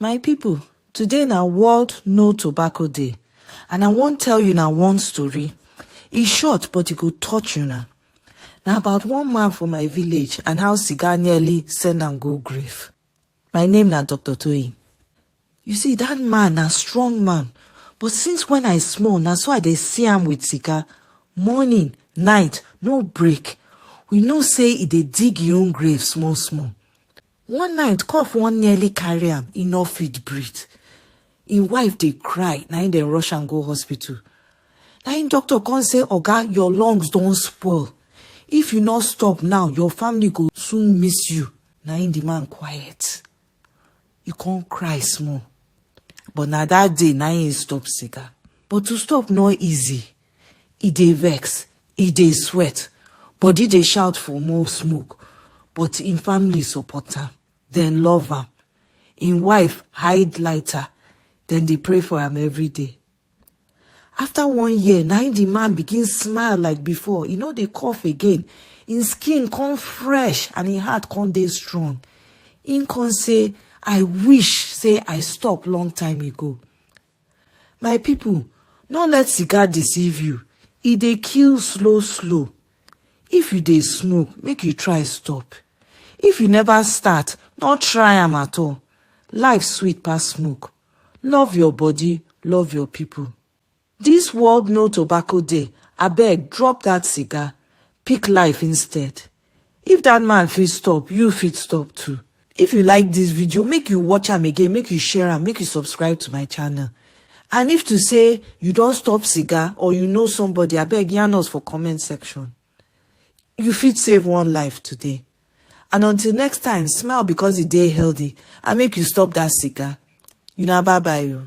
My people today na world no tobacco day and I wan tell una one story, e short but e go touch una. Na about one man for my village and how cigar nearly send am go grave. My name na Doctor Toyin. You see dat man na strong man but since when I small na so I dey see am with cigar morning, night no break. We know say e dey dig im own grave small small. One night, cough wan nearly carry am, e nor fit breathe. Im wife dey cry, na im dem rush am go hospital. Na im doctor come say, Oga, your lungs don spoil. If you nor stop now, your family go soon miss you. Na im di man quiet, e come cry small. But na dat day na im e stop cigar. But to stop nor easy. E dey vex, e dey sweat, body dey shout for more smoke, but im family support am, dem love am. Im wife hide lighter, dem dey pray for am every day. After one year, na im the man begin smile like before, e no dey cough again, im skin come fresh and im heart come dey strong. Im come say, I wish say I stop long time ago. my people no let cigar deceive you e dey kill slow slow if you dey smoke make you try stop if you never start no try am at all life sweet pass smoke love your body love your people this world no tobacco day abeg drop that cigar pick life instead. If that man fit stop, you fit stop too. If you like this video, make you watch am again, make you share am, make you subscribe to my channel. And if to say you don stop cigar or you know somebody, abeg yarn us for comment section. You fit save one life today. And until next time, smile because e dey healthy and make you stop that cigar. Una bye bye o.